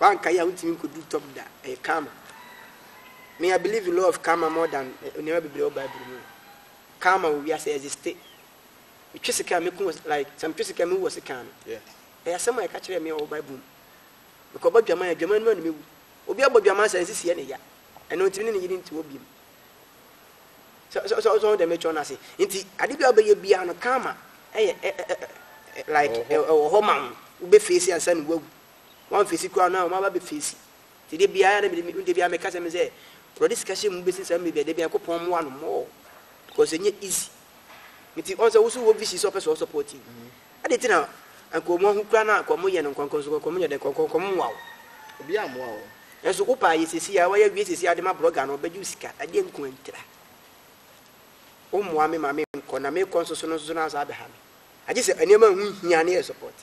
Wankae a wontumi nkodu top da. Ɛyɛ karma. Me I believe in law of karma more than nneɛma bebree wɔ bible mu. Karma wɔ wiase existe. Metwe sika a meku wɔ like sɛ metwe sika a mewu wɔ sika ano. Ɛyɛ asɛm a yɛka kyerɛɛ me a ɔwɔ bible mu. Mekɔbɔ dwaman a dwaman no mu a na mewu. Obi abɔ dwaman saa nsisi yɛ ne ya. Ɛno ntimi ne ne yere nti hɔ biom. So so so so dɛm ɛtwa no ase. Nti ade bi a wobɛyɛ biara no karma ɛyɛ ɛ ɛ ɛ like Ɛwɔ hɔ. ɛwɔ hɔ ma wo. Wobɛ face ansa na woawu. Wan face koraa no a wɔn aba bɛ face. Nti da biara na mede me da biara meka sɛ me sɛ Awurade sika hyɛ mu bɛsi saa mmerɛ biara da biara Nyankopɔn mmoa no more because ɛnyɛ easy. Nti wɔn sɛ wo nso wowɔ vision sɛ wopɛ sɛ wɔ support yi. Adɛn nti na anka wɔn ahu koraa na anka wɔyɛ no nkɔnkɔn? Nso nkɔnkɔn yɛ dɛn? Nkɔnkɔn nkɔm mmoa wo. Obiara mmoa wo. Nanso wo paa yɛ seesei ara, woayɛ awie seesei ara de ma blɔga no, ɔbɛgye wo sika. Ɛdeɛn nko ara ntira? Wommoa me ma menkɔ, na merekɔ nso so no nso na woasan abɛha me. Agye sɛ nneɛma a ɛho hia na yɛsɔpɔte.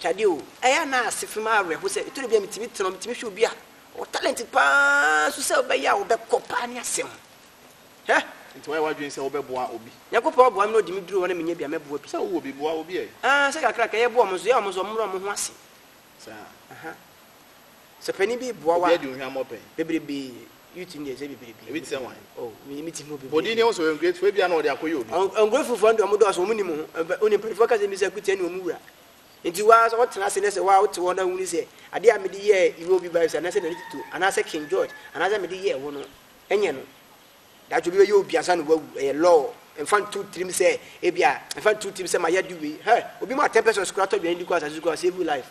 Kyade o, ɛyɛ a na ase fi me awerɛho sɛ ɛtɔ da bi a metumi tena hɔ, metumi hwɛ obi a ɔwɔ talent pa ara nso sɛ ɔbɛyɛ a ɔbɛkɔ paa ne asɛm. Hɛ! Nti wayɛ w'adwene sɛ wobɛboa obi? Nyankopɔn boa me na ɔde me duru hɔ na menya bi a mɛboa bi. Sɛ wowɔ bi, boa obi ɛ. Aa, sɛ kakra kakra yɛboa wɔn nso, yɛ wɔn sɛ wɔmmrɛ wɔn ho ase. Saa. Aha. Sɛ panin bi reboa wo a, bebrebe, youth no deɛ sɛ bebrebe, Ebi te sɛ wan? oh, me me ti mu bebrebe. Bɔdin ni ɛho sɛ ɔyɛ ungrateful, ebia na ɔde akɔyɛ obi. Ɔn, ungrateful foɔ no deɛ wɔn dɔɔso, wɔn nim ho, ɛbɛ, wɔn mpanimfoɔ ka sɛ mbisa kutia ne wɔn wura. Nti waa sɛ ɔtena ase na sɛ waa wote hɔ na wuni sɛ adeɛ a mede yɛɛ Iwe Obi Baiso anaasɛ Nana Tito anaasɛ King George anaasɛ mede yɛɛ wo no, ɛnyɛ no. Daakye obi bɛyɛ obi ansa na wawu, ɛyɛ law. Mfa nto tirim sɛ ebia, mfa nto tirim sɛ mayɛ ade wei, hɛ, obi mu atɛmpɛsɛs koraa tɔ dwane di kɔ asase so koraa, save wo life.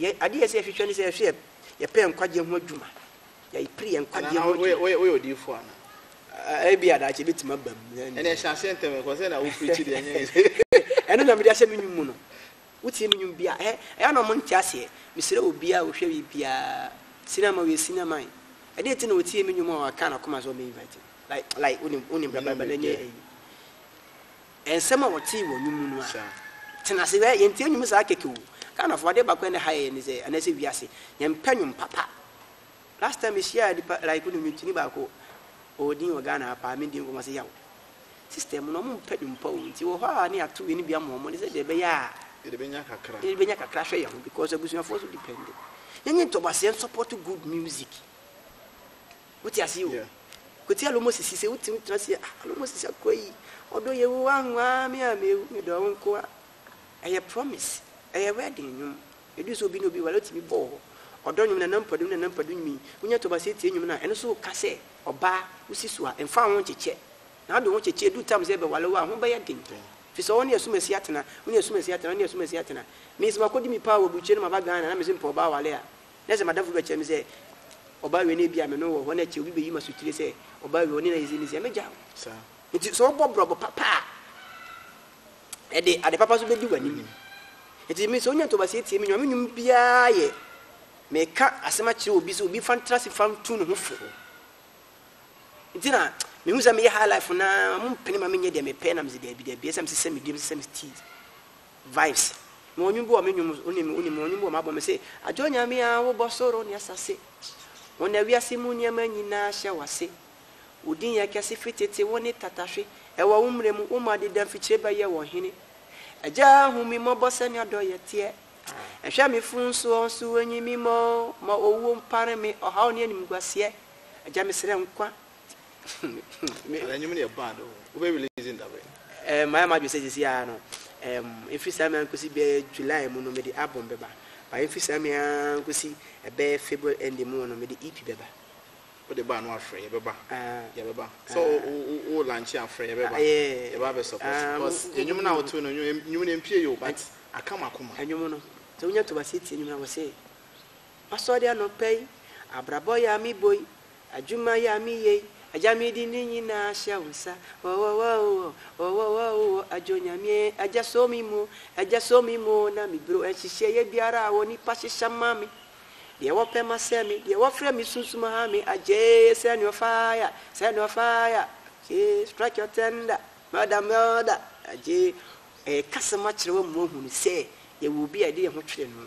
Yɛn ade a ɛsɛ sɛ yɛhwehwɛ ne sɛ yɛhwɛ yɛ yɛpɛ yɛn nkwagyeɛ ho adwuma. Yɛpere yɛn nkwagyeɛ ho adwuma. Woyɛ woyɛ odiifo ana? Ebi a daakye ebetumi aba mu. Ɛnna ɛhyɛ aseɛ ntɛm ɛkɔ sɛ na wopirikyi deɛ ɛnyɛ. Ɛno na mede ahyɛ me nnwom mu no. Wotie me nnwom bi a, ɛyɛ ɛyɛ na wɔn nte aseɛ. Mesrɛ obiara a ɔhwɛ wie biara, senior man ɔyɛ senior man. Ɛdeɛ nti na ɔtie me nnwom a ɔka n'akoma sɛ ɔbɛ invite me. Like like wonim wonim brabra brabra nyɛ ɛyi. Nsɛm a wɔtee wɔ nnwom mu no ara. Tena ase hwɛ, yɛntie nnwom saa kɛkɛ o. Ghanafoɔ, adeɛ baako a ɛnnɛ ha yɛyɛ ne sɛ, anaasɛ wiase, yɛmpɛ nnwom papa. Last time mehyiaa nipa like no nnwomtoni baako, ɔwɔ din wɔ Ghana ha paa, medi nkɔmmɔ ɔse yaw. System no, wɔmpɛ nnwom pa o, nti wɔ hɔ a ne yɛato yɛn no bi ama wɔn ne sɛdeɛ ɛbɛyɛ a Yɛde bɛnya kakra. yɛde bɛnya kakra ahwɛ yɛn ho because abusuafoɔ nso depende. Yɛnyɛ ntɔbaseɛ nsupporto good music. Wote aseɛ o. Koti alo mo sisi sɛ wotumi tena aseɛ ah alo mo sisi akɔ yi ɔdɔ yɛ wo wanwa me a me me dɔ wo nkoa ɛyɛ promise ɛyɛ wedding nwom ɛdu sɛ obi ne obi wale wotumi bɔ wɔ ɔdɔ nwom nana mpadu ne nana mpadu nwom yi wonya tɔba sɛ tie nwom no a ɛno so ka sɛ ɔbaa wosi so a mfa ho kyekyɛ na ado ho kyekyɛ ɛdu tam sɛ bɛwale wo a ho bɛyɛ den fi sɛ ɔne asumasi atena ɔne asumasi atena ɔne asumasi atena me sɛ makɔdi me paa wɔ burukyɛ no maba Ghana na me sɛ mpɛ ɔbaa wale a Na sɛ m'adamfo bi bɛka kyerɛ me sɛ, Ɔbaa wei na ebia me ne wo wɔ hɔ, na ɛkyɛ obi beyi me asotire sɛ, Ɔbaa wei, ɔne no ayɛ sei ne sei a, mɛgyae wo. Enti sɛ wobɔ brɔbo papa a, ɛde ade papa nso bedi w'anim. Enti me, sɛ wonya ntoboaseɛ tie me nnwom a, me nnwom biara yɛ meka asɛm akyerɛ obi sɛ obi fa ntra ase fa ntu ne ho fo. Nti na mehu sɛ meyɛ high life no ara, wɔmpene ma menyɛ deɛ mepɛ na mese daabi daabi, ɛsɛ sɛ mesesɛ me dua, mesesɛ me teeth. Vibes mewɔ ɔnwom bi wɔ me nwom wonim wonim mewɔ ɔnwom bi wɔ m'abɔ me se adwo onyame a wobɔ soro ne asase wo na wiase mu nneɛma nyinaa hyɛ wase wo din yɛ kɛse firi tete wo ne tatahwe ɛwɔ wo mmerɛ mu wo ma deda mfikyire bɛyɛ wɔ hene agya hu me mmɔbɔ sɛnea dɔ yɛ teɛ ɛhwɛ me fun soɔ nso enyi me mɔ ma owuo mpare me ɔhaw ne animguaseɛ agya mesrɛ nkwa Mayɛ m'adwene sɛ seesei ara no, ɛmfiri saa mmere ara nkɔsi bɛyɛ July mu no, mede album bɛba. But ɛmfiri saa mmere ara nkɔsi ɛbɛyɛ February ending mu no, mede EP bɛba. Wode ba a na woafrɛ, yɛbɛba, yɛbɛba. Sɛ wo launch a, frɛ, yɛbɛba, yɛbɛba bɛ support. Because nnwom no a woto no, nnwom no ɛmpue yɛ o, but aka m'akoma. Nnwom no, sɛ wonya ntomaseɛ tie nnwom no a, wɔse, Masɔre anɔpa yi, abrabɔ yɛ a mebɔ yi, Adwuma yi a me yɛ yi, Agya me de ne nyinaa hyɛ wo nsa, Ɔɔɔɔɔɔɔɔɔɔ, Ɔɔɔɔɔɔɔɔɔɔ, Agya Onyame ee, Agya sɔ me mu o, Agya sɔ me mu o, na me bro Nhyehyɛeɛ biara a onipa hyehyɛ ma me, Deɛ wɔpɛ ma sɛ me, Deɛ wɔfrɛ me sunsum ha me, Agya ee, send your fire, Send your fire, Agya ee, strike your tender, Murder, murder, Agya ee, Ɛɛka asɛm akyerɛ wo ama woahunu sɛ yɛwɔ obi a yɛde yɛn ho twere no,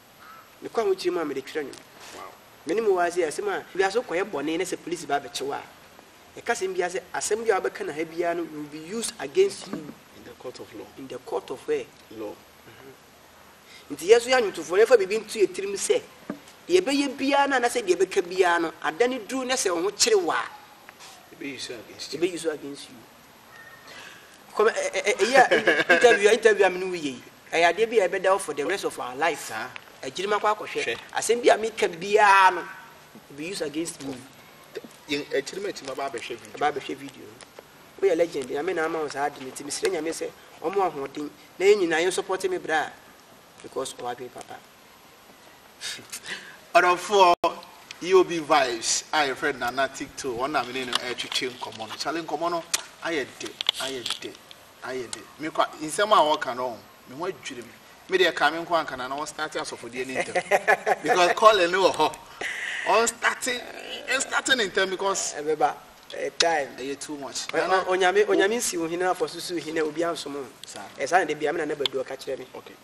Mekɔ ahokyere mu a mede twerɛ nnwom. Me ne mowaa sei asɛm a wiase wo kɔyɛ bɔne na sɛ police ba bɛkye wo a yɛka asɛm biara sɛ asɛm biara wobɛka no ha biara no will be used against you in the court of law in the court of where law mm -hmm. Nti yɛ nso yɛ anwontofoɔ no yɛfa biribi nto yɛ tirim sɛ deɛ ɛbɛyɛ biara no anasɛ deɛ ɛbɛka biara no adane duru na sɛ wo ho kyere wo a ɛbɛyi so against you Kɔmɛ ɛ ɛ ɛ yɛ interview a interview a mi ni wo yɛ yi ɛyɛ adeɛ bi a ɛbɛda hɔ for the rest of our life saa agyiri ma kɔ akɔhwɛ asɛm bi a mi ka biara no be used against me yɛn akyiri ma ti ma ba abɛhwɛ video ba abɛhwɛ video no woyɛ legend nyame na ama wo saa ade no nti mesrɛ nyame sɛ ɔmo ahoɔden na yɛn nyinaa yɛn support me bra because ɔwadwen papa Ɔdɔfoɔ EOB Vibes a yɛfrɛ no Nana Tikto, wɔn na me ne no ɛretwetwe nkɔmmɔ no. Kyale nkɔmmɔ no ayɛ dɛ, ayɛ dɛ, ayɛ dɛ. Me kwa, nsɛm a wɔka no, me ho adwiri me. Me deɛ ɛkaa me nko anka na na wɔn starte asɔfodeɛ no ntɛm. Because calling no wɔ hɔ. Wɔn starte, wɔn starte no ntɛm because. Ɛbɛba, ɛyɛ time. Ɛyɛ too much. Nana. Onyame, onyame nsi wo hene afɔ so si wo hene obi ansom ho. Saa. Ɛsaa na da bia me nana badu ɔka kyerɛ me. Okay.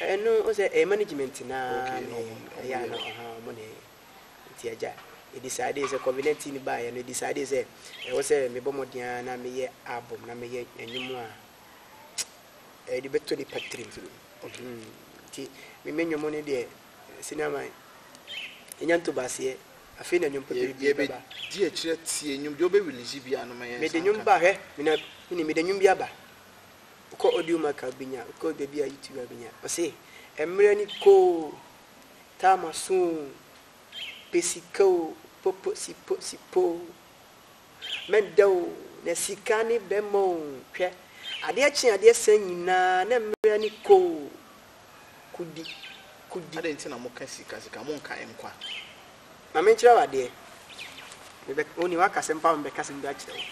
Ɛno sɛ ɛyɛ management no ara ne ɛyɛ a na ɔha ɔmo ne nti agya yɛ decide sɛ covid 19 no baayɛ no yɛ decide sɛ ɛwɔ sɛ me bɔ mmɔden ara na me yɛ album na me yɛ ɛnwom a ɛde bɛtɔ nipa tirim nti me me nwom no deɛ sini ama ɛnya nto baseɛ afei na nwom pɛpɛ bi bɛba di akyerɛ tie nwom deɛ ɔbɛ release bi anoma yɛ mede nwom ba hwɛ mena mene mede nwom bi aba wokɔ audio mark a wobɛnya, wokɔ baabi a YouTube a wobɛnya. Ɔse mmerɛ ni kɔ o, time aso o, pɛ sika o, po po si po si po o, mɛda o, na sika ne bɛma o, hwɛ adeɛ kye adeɛ san nyinaa na mmerɛ ni kɔ o, kudi kudi. Adɛn nti na moka sika sika, monka nkwa? Ma menkyerɛ wo adeɛ, mebɛ, wonim woaka asɛm paa ma mebɛka asɛm bi akyerɛ wo.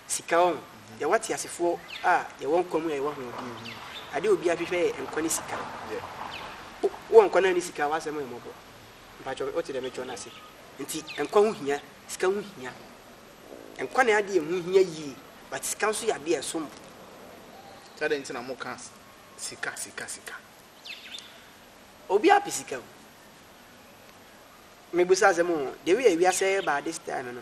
Sika, wahu? Yɛwɔ ateasefoɔ a yɛwɔ nkwa mu na yɛwɔ ahoɔden. Adeɛ a obiara hwehwɛ yɛ nkwa ne sika. Wo, wowɔ nkwa na wonni sika a, w'asɛm yɛ mmɔbɔ. Mpakyɛw, wote deɛ mekyerɛ no ase? Enti nkwa ho hia, sika ho hia. Nkwa ne adeɛ a ɛho hia yie, but sika nso yɛ adeɛ a ɛsom bo. Nti adɛn nti na moka sika, sika, sika? Obiara pɛ sika o. Mebisa asɛm o, deɛ woyɛ wiase ɛɛba this time no,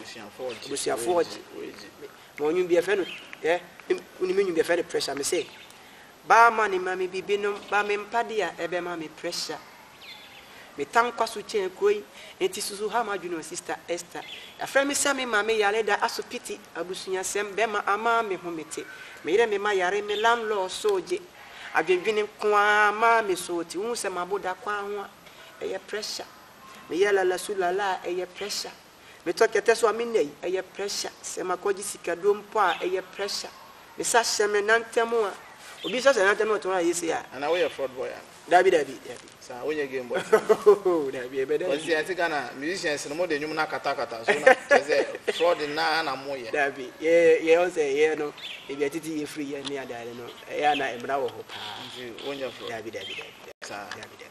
abusuafoɔ ɔgye ma ɔnwom bi ɛfɛ no ɛ wonim nwom bi ɛfɛ no pressure me se baa ma ne ma me bibi nom ba me mpade a ɛbɛ ma me pressure me tankwa so kyɛn kuro yi nti susu ha ma dwene sister Esther afrɛ me sɛ me ma me yare da aso piti abusuasɛm bɛma ama me ho me te me yere me ma yare me landlord so gye adwendwene nko ara ma me so ti wohu sɛ maboda kwan ho a ɛyɛ pressure Me yɛ lala su lala a ɛyɛ pressure Me tɔ kɛtɛ so a me nna yi ɛyɛ pressure Sɛ ma kɔ gye sika duro mpo a ɛyɛ pressure Me sa hyɛ me nan tɛm a Obi sa hyɛ nan tɛm na ɔtɔn a ɛyɛ sei a. Ana wo yɛ fraud boy ana? Dabi dabi dabi. Saa wo nyɛ game boy saa. Ohoo dabi ɛbɛ dɛ. Cos deɛ yɛte Ghana musicians no mo de nwom no akata akata so na kyerɛ sɛ fraud naa na mo yɛ. Dabi yɛ yɛ ɔn sɛ yɛ no ebi a titi yɛ free yɛ ne adeade no ɛyɛ a na ɛmra wɔ hɔ paa. Nti wo nyɛ fraud. Dabi dabi dabi dabi. Saa. Dabi dabi.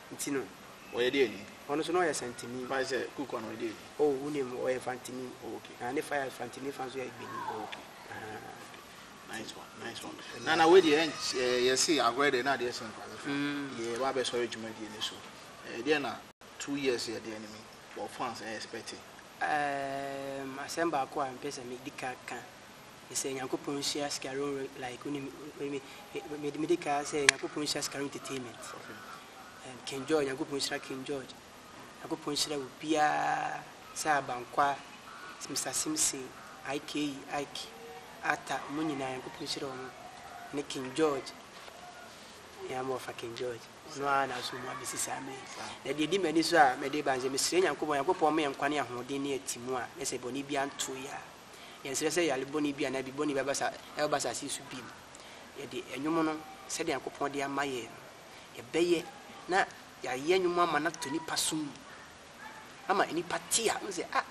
Nti no. Ɔyɛ deɛ ni? Ɔno nso na ɔyɛ Santini. Why sɛ Kukua no ɔyɛ deɛ ni? Oh, wo nim, ɔyɛ Fantini. Oh, okay. Na ne fa yɛ Fantini fa nso yɛ Egbeni. Oh, okay. Ahaa. Nice one, nice one. Na na wei deɛ eh, yɛse agorɛ deɛ na adeɛ sɛ nkwase fo deɛ ɛba abɛsɔre dwumadie no so. Eh, deɛ na two years yɛ deɛ no mi wɔ fans eh expecte? Ehm, asɛm baako a mepɛ sɛ medi kan ka sɛ Nyankopɔn hyia sikarom re like wo nim me me de kaa sɛ Nyankopɔn hyia sikarom entertainment um, King George Nyankopɔn hyira King George Nyankopɔn hyira wo biara sɛ abankwa Mr Simpson Ike Ike Ata mo nyinaa Nyankopɔn hyira wɔn ne King George ya mo fa King George no a na so mo abesi saa me na deɛ di m'ani so a mɛde ba nsɛ mesrɛ Nyankopɔn Nyankopɔn me nkwa ne ahoɔden ne atimu a ne sɛ bɔne bi anto ya Yɛnsrɛ sɛ yare bɔne bi anaa bibɔne bi bɛba asase yi so bio. Yɛde nnwom no, sɛdeɛ Nyankopɔn de ama yɛn no, yɛbɛyɛ na yɛayɛ nnwom ama no ato nnipa som mu, ama nnipa te a, wohu sɛ, ah,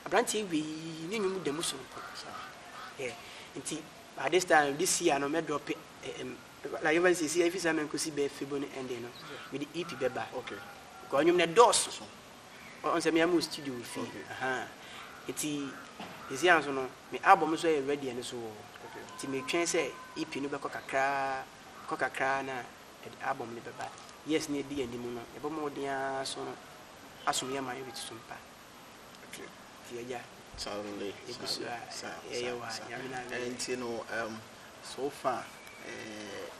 aberanteɛ wei, ne nnwom da mu sononko. Yeah. Nti, by this time, this year no, mɛdrɔpe, um, like even sɛ ɛsi ɛfiri sɛ mɛnkɔsi bɛɛ febo no ɛnde no, mede EP bɛba. Okay. Because nnwom no ɛdɔɔso. Ɔn sɛ me a me wɔ studio wɔ fie ahaa nti sɛsei ara nso no me album no nso ɛyɛ ready no so nti metwɛn sɛ EP no bɛkɔ kakraa ɛkɔ kakraa na ɛde album no bɛba years no a ɛdi yɛn anim no yɛbɔ mmɔden ara so no asom yɛn mayority so mpa nti agya yɛgu so a yɛyɛ wɔ ha Nyame na ayɛ. Nti no um, so far eh,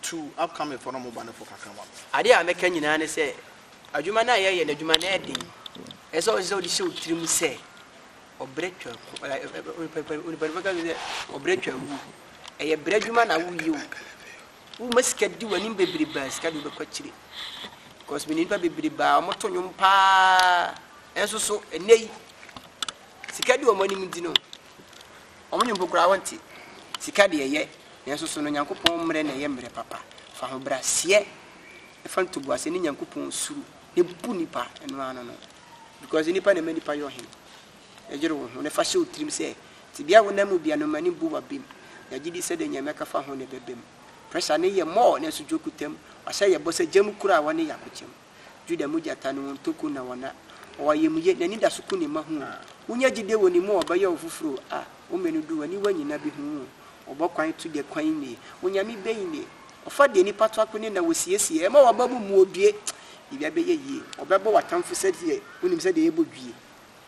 Tu upcoming fɔ na ɔmo ba no fɔ kakra ma me. Adeɛ a mɛka nyinaa ne sɛ adwuma no a yɛyɛ no adwuma no yɛ den. Ɛsɛ sɛ ɔsɛ wode hyɛ wo tiri mu sɛ ɔbrɛ twa ko ɛ ɛ ɛ onipa pa onipa no bɛka sɛ ɔbrɛ twa agu. Ɛyɛ brɛ adwuma na woyɛ o. Woma sika di w'anim bebrebe a sika de wobɛkɔ akyire. Because menim nipa bebrebe a wɔto nnwom paa nso so ɛnɛ yi sika di wɔn anim nti no Wɔn mpo koraa wɔnte. Sika de ɛyɛ, nanso so no Onyankopɔn mmere na ɛyɛ mmere papa? Fa ahobrɛaseɛ fa ntoboaseɛ ne Nyankopɔn suro na bu nipa, ɛno ara no no. Because nnipa na ɛma nnipa yɛ ɔhene. Yere wo ho na fa hyɛ wo tirim sɛ tebea a wonam mu bia no mma no mbu w'abam. Na gyedi sɛ deɛ nea mɛka fa ho na ɛbɛbam. Pressure no yɛ more nanso dwokutam, wahyɛ yɛ bɔ sɛ gya mu kuro a wɔne yɛ akokyɛm. Judah mu gyata no, wɔn ntoko na wɔn a. Ɔwɔ ayamye, n'anidaso ku ne mma ho o. Wunya gyide wɔ ne mu a, ɔbɛyɛ wo foforo o, ah. Wo mmɛ no du, w'aniwa nyina behu wo o. Ɔbɔ kwan to deɛ kwan nnie, Onyame bɛn nie? Ɔfa deɛ nnipa to akone na wɔsiesie, ɛma w'abam mu obue, biribiara bɛyɛ yie. Ɔbɛbɔ w'atamfo sɛdeɛ wonim sɛdeɛ yɛbɔ dwie.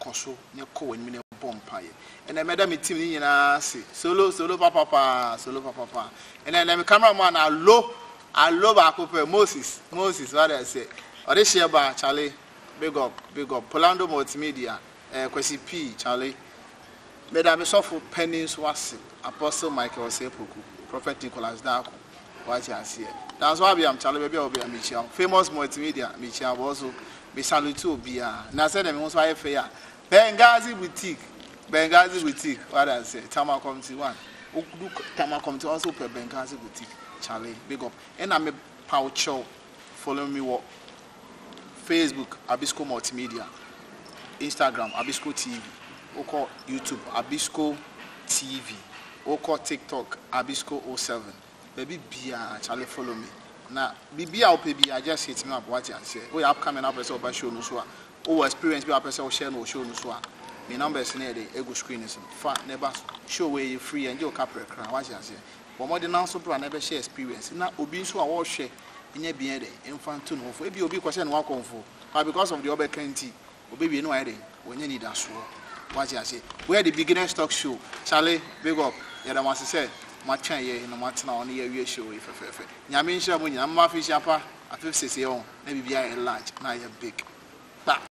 kɔ so na kɔ w'anim na bɔ mpaeɛ. Ɛnna mɛda me tim no nyinaa ase. Solo, solo papapaa, solo papapaa. Ɛnna ɛnna me camera man na alo, alo baako pɛ, Moses, Moses, what I say. Ɔde hyɛ ba, Charlie, big up, big up. Polando Multimedia, eh, Kwasi P, Charlie. Mɛda me sɔfo panin nso ase, Apostle Michael Osei Poku, Prophet Nicholas Darko. Wate aseɛ. That's why biam kyale baabi a wɔ biara mekyia wo. Famous Multimedia mekyia wo also. Me salute obiara. Na sɛdeɛ me ho nso ayɛ fɛ yi a, Benghazi Boutique, Benghazi Boutique, wate aseɛ, Tama Committee one. Wodu Tama Committee one nso wopɛ Benghazi Boutique, kyale, big up. Ɛna mepa wo kyɛw, follow me wɔ Facebook, Abisco Multimedia, Instagram, Abisco TV, wokɔ YouTube, Abisco TV, wokɔ TikTok, Abisco 07, baabi biaa Charlie follow me na biribi a wopɛ biaa just hit me up wate aseɛ, woyɛ upcoming na wopɛ sɛ woba show no so a, wowɔ experience bi a wopɛ sɛ wo share no wɔ show no so a, me numbers no yɛ dɛn? Ɛgu screen no so, fa na ɛba so, show wei ɛyɛ free ɛngye wo kaprɛ koraa wate aseɛ. Bɔ mmɔden na nso bra na bɛhyɛ experience na obi nso a ɔrehwɛ nyɛ bia dɛ mfa nto ne ho fo. Ebia obi kɔhyɛ ne ho akɔmfo but because of deɛ ɔbɛka nti ɔbɛwie na wayɛ dɛn? Wanya anidasoɔ. Wate ase? Where the beginners talk show Charlie big up yɛda mo ase sɛ mo atwɛn yɛ na mo atena hɔ na yɛ awie show yi fɛfɛɛfɛ Nyame nhyira mo nyinaa momma afehyia pa afefsesee ɔho na biribiara ayɛ large na ayɛ big kpa.